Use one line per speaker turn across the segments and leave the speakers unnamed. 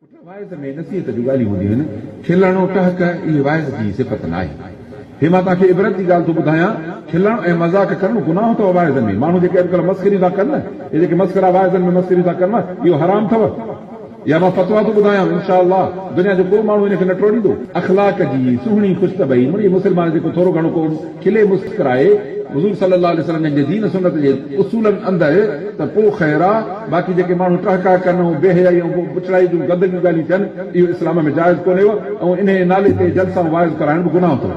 اٺ واعظ ۾ نصيحت جون ڳالهيون هونديون آهن. کلڻ ۽ ٽهڪ اهي واعظ جي صفت نه آهي. هي مان توهان کي عبرت جي ڳالهه ٿو ٻڌايان، کلڻ ۽ مذاق ڪرڻ گناهه اٿو واعظن ۾. ماڻهو جيڪي اڄڪلهه مسخريون ٿا ڪن نه، اهي جيڪي مسخرا واعظن ۾ مسخريون ٿا ڪن اهو حرام اٿو. اها مان فتويٰ ٿو ٻڌايان، ان شآء الله دنيا جو ڪو ماڻهو ان کي نه ٽوڙيندو. اخلاق جي سهڻي خوش طبعي مڙئي مسلمان جيڪو ٿورو گهڻو ڪو کلي مسڪرائي حضور صلي الله عليه وسلم جن جي دين سنت جي اصولن اندر ته پو خير آ باقي جيڪي ماڻهو ٽهڪا ڪن ۽ بي حيائي ۽ بڇڙائي جون گندگيون ڳالهيون ڪن اهو اسلام ۾ جائز ڪونهي و ۽ انهيء نالي تي جلسا ۽ واعظ ڪرائڻ به گناهه ٿو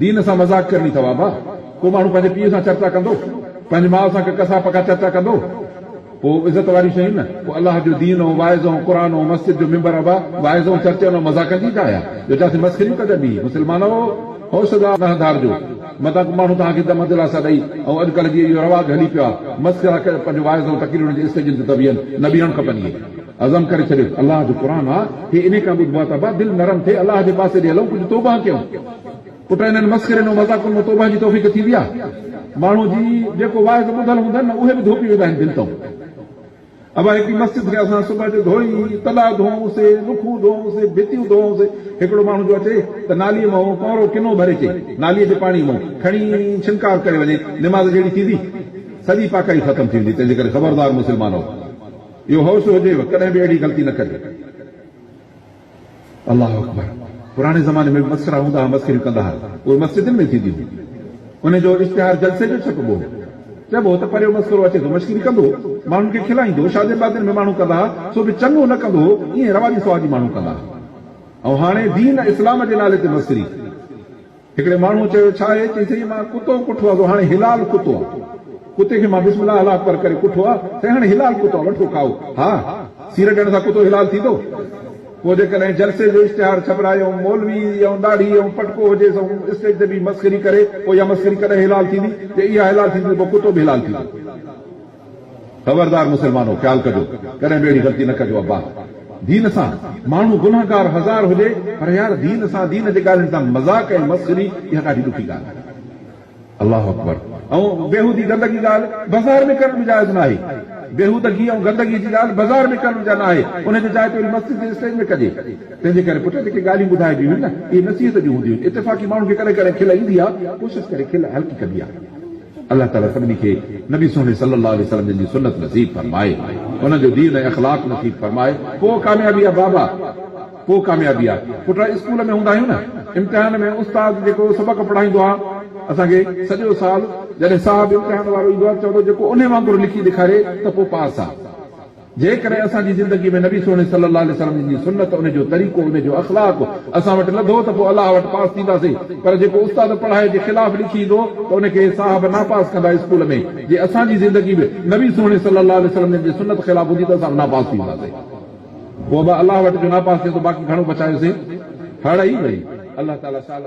دين سان مذاق ڪرڻي ٿواب آ ڪو ماڻهو پنهنجي پيء سان چرچا ڪندو پنهنجي ماء سان ڪه ڪسا پڪا چرچا ڪندو پوء عزت واريون شيون نه، پوء الله جو دين ۽ واعظ ۽ قرآن ۽ مسجد جو منبر ابا واعظ ۽ چرچن ۽ مذاقن جي جاء آ، جو جيان ٿي مسخريون ڪجن ڀي، مسلمانؤ! هوش ڏا نه هنڌارجو، متان ڪو ماڻهو توهان کي دم دلاسا ڏئي، ۽ اڄ ڪلهه جيئن اهو رواج هلي پيو آ، مسخرا ڪري پنهنجو واعظ ۽ تقريرن جي اسٽيجن تي ته ويهن، نه ويهڻ کپن اهي عزم ڪري ڇڏيو، الله جو قرآن آ، هي انهي کان ٻڌبو آ ته ابا دل نرم ٿئي، الله جي پاسي ڏي هلئون، ڪجهه توبهه ڪيون. پٽ انهن مسخرين ۽ مذاقن مان توبهه جي توفيق ٿيندي آهي. ماڻهو جي جيڪو واعظ ٻڌل هوندن نه اهي به ڌوپي ويندا آهن دل تئون. ابا هڪڙي مسجد کي اسان صبح جو ڌوئي تڏا ڌوئون سي نکون ڌوئون سي ڀتيون ڌوئون سي هڪڙو ماڻهو جو اچي ته نالي مئون ڪؤرو ڪنو ڀري چي نالي جي پاڻي مئون کڻي ڇنڪار ڪري وڃي نماز جهڙي ٿيندي سڄي پاڪائي ختم ٿي ويندي تنهنجي ڪري خبردار مسلمانو اهو هوش هجيو ڪڏهن به اهڙي غلطي نه ڪجو. الله اڪبر پراڻي زماني ۾ به مسڪرا هوندا ها مسڪريون ڪندا ها اهي مسجدن ۾ ٿينديون هيون انهن جو اشتهار جلسي جو ڇپبو هو چئبو هو ته پريو مسڪرو اچي ٿو مشڪري ڪندو ماڻهن کي کلائيندو شادين بادين ۾ ماڻهو ڪندا ها سو به چڱو نه ڪندو هو ائين رواجي سواجي ماڻهو ڪندا ها ۽ هاڻي دين اسلام جي نالي تي مسڪري هڪڙي ماڻهوء چيو، ڇا اهي چئي سهي مان ڪتو ڪٺو آ سو هاڻي هلال ڪتو آ. ڪتي کي مان بسم الله الله اڪبر ڪري ڪٺو آ سي هاڻي هلال ڪتو آ وٺو کائو. ها! سير ڏيڻ سان ڪتو هلال ٿيندو؟ پوء جيڪڏهن جلسي جو اشتهار ڇپرائي ۽ مولوي ۽ ڏاڙهي ۽ پٽڪو هجيس ۽ اسٽيج تي بيهي مسخري ڪري پوء اها مسخري ڪڏهن هلال ٿيندي؟ جي اها هلال ٿيندي ته پوء ڪتو به هلال ٿيندو. خبردار مسلمانو! خيال ڪجو، ڪڏهن به اهڙي غلطي نه ڪجو عباس دين سان ماڻهو گنهگار هزار هجي پر يار دين سان دين جي ڳالهين سان مذاق ۽ مسخري اها ڏاڍي ڏکي ڳالهه آهي الله اڪبر ۽ بيهودي گندگي ڳالهه بازار ۾ ڪرڻ به جائز ناهي بيهودگي ۽ گندگي جي ڳالهه بازار ۾ ڪرڻ جا ناهي ان جي جاء تي وري مسجد جي اسٽيج ۾ ڪجي تنهنجي ڪري پٽ جيڪي ڳالهيون ٻڌائبيون هيون نه اهي نصيحت جون هونديون هيون اتفاقي ماڻهن کي ڪڏهن ڪڏهن کل ايندي آهي ڪوشش ڪري کل هلڪي ڪبي آهي. الله تعالي سڀني کي نبي سهڻي صلي الله عليه وسلم جن جي سنت نصيب فرمائي انهن جو دين ۽ اخلاق نصيب فرمائي پوء ڪاميابي آ بابا پوء ڪاميابي آ پٽ اسڪول ۾ هوندا آهيون نه امتحان ۾ استاد جيڪو سبق پڙهائيندو آ اسان کي سڄو سال جڏهن صاحب امتحان وارو ايندو آ چوندو جيڪو انهي وانگر لکي ڏيکاري ته پوء پاس آ. جيڪڏهن اسان جي زندگي ۾ نبي سهڻي صلي الله عليه وسلم جي سنت، ان جو طريقو، ان جو اخلاق اسان وٽ لڌو ته پوء الله وٽ پاس ٿينداسين پر جيڪو استاد پڙهائي جي خلاف لکي ايندو ته ان کي صاحب ناپاس ڪندا اسڪول ۾ جي اسان جي زندگي به نبي سهڻي صلي الله عليه وسلم جن جي سنت خلاف هوندي ته اسان به ناپاس ٿي وينداسين پوء به الله وٽ جو ناپاس ٿيندو باقي گهڻو بچايوسين هڙئي وئي الله تعالي سال